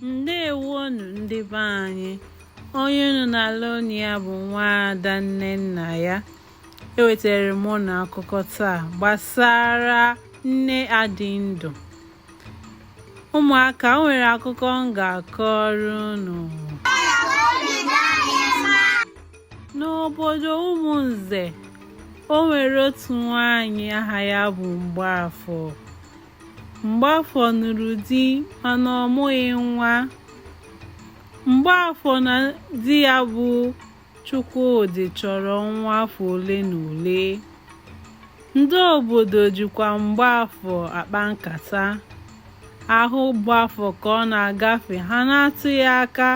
ndewonu ndị be anyị onye unu na-ele anya bụ nwaada nnennaya ewetara m unu akụkọ taa gbasara nne adịndụ ụmụaka o nwere akụkọ m ga-akọrọ unu n'obodo ụmụnze o nwere otu nwaanyị aha ya bụ mgbaafọ Mgbaafọ nụrụ di mana ọ mụghị nwa. Mgbaafọ na di ya bụ Chukwudị chọrọ nwa afọ ole na ole. Ndị obodo jikwa Mgbaafọ akpa nkata. A hụ Mgbaafọ ka ọ na-agafe ha na-atụ ya aka.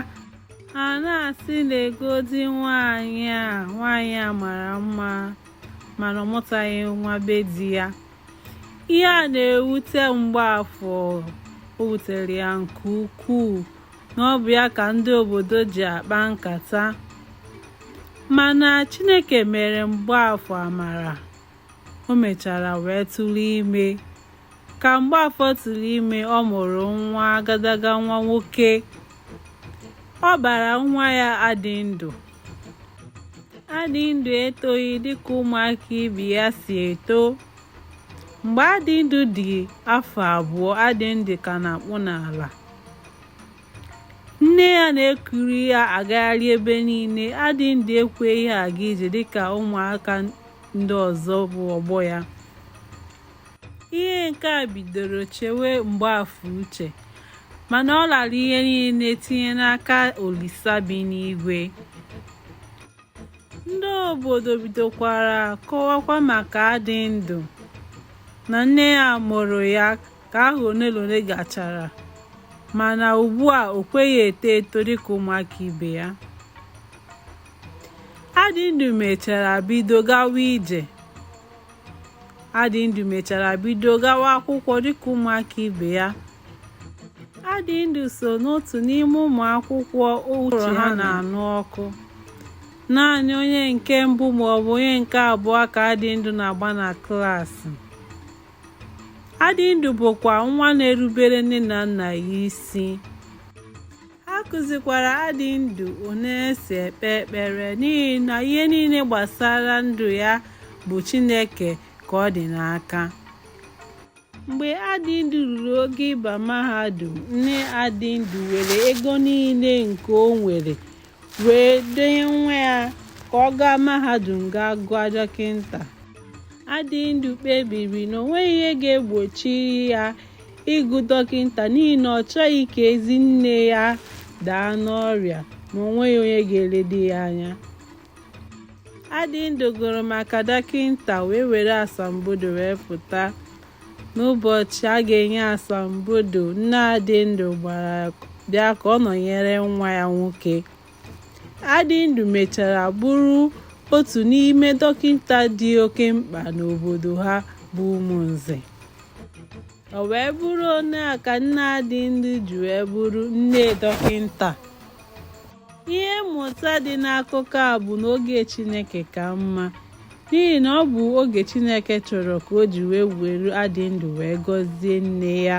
Ha na-asị legodi nwaanyị a, nwaanyị a mara mma mana ọ mụtaghị nwa be di ya. ihe a na-ewute mgbaafọ o wutere ya nke ukwuu na ọ bụ ya ka ndị obodo ji akpa nkata mana chineke mere mgbaafọ amara o mechara wee tụrụ ime ka mgbaafọ tụrụ ime ọ mụrụ nwa agadaga nwa nwoke ọ bara nwa ya adịndụ adịndụ etoghị dịka ụmụaka ibe ya si eto mgbe adịndụ dị afọ abụọ adịndụ ka na-akpụ n'ala nne ya na-ekuru ya agagharị ebe niile adịndụ ekweghị aga ije dịka ụmụaka ndị ọzọ bụ ọgbọ ya ihe nke a bidoro chewe mgbaafọ uche mana ọ lara ihe niile tinye n'aka olisa bi n'igwe ndị obodo bidokwara kọwakwa maka adịndụ na nne ya mụrụ ya ka afọ ole na ole gachara mana ugbu a o kweghị eto eto dịka ụmụaka ibe ya adịndụ mechara bido gawa ije Adịndụ mechara bido gawa akwụkwọ dịka ụmụaka ibe ya. Adịndụ so n'otu n'ime ụmụ akwụkwọ uche ha na-anụ ọkụ. Naanị onye nke mbụ maọbụ onye nke abụọ ka Adịndụ na-agba na klaasị. Adịndụ bụkwa nwa na-erubere nne na nna ya isi. a kụzikwara adịndụ otu e si ekpe ekpere n'ihi na ihe niile gbasara ndụ ya bụ Chineke ka ọ dị n'aka mgbe adịndụ ruru oge ịba mahadum nne adịndụ were ego niile nke o nwere wee dunye nwa ya ka ọ gaa mahadum gaa gụọ dọkịta adịndụ kpebiri na o nweghị ihe ga-egbochi ya ịgụ dọkịta n'ihi na ọ chọghị ka ezi nne ya daa n'ọrịa ma o nweghị onye ga-eledo ya anya Adịndụ gụrụ maka dọkịta wee were asambodo wee pụta n'ụbọchị a ga-enye asambodo nne Adịndụ gbara bịa ka ọ nọnyere nwa ya nwoke Adịndụ mechara bụrụ otu n'ime dọkịta dị oke mkpa n'obodo ha bụ Ụmụnze. O wee bụrụ onye a ka nne Adịndụ ji wee bụrụ nne dọkịta. Ihe mmụta dị n'akụkọ a bụ na oge Chineke ka mma n'ihi na ọ bụ oge Chineke chọrọ ka o ji wee were Adịndụ wee gọzie nne ya.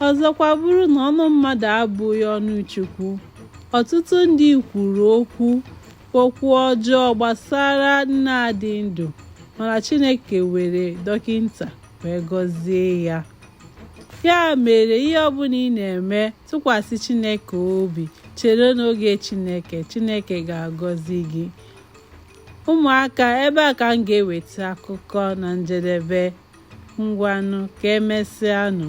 Ọzọkwa bụrụ na ọnụ mmadụ abụghị ọnụ Chukwu, ọtụtụ ndị kwuru okwu okwu ọjọọ gbasara nne Adịndụ mana Chineke were dọkịta wee gọzie ya. Ya mere ihe ọbụla ị na-eme tụkwasị Chineke obi chere n'oge Chineke Chineke ga-agọzi gị. Ụmụaka ebe a ka m ga-eweta akụkọ na njedebe. ngwanụ ka emesịanụ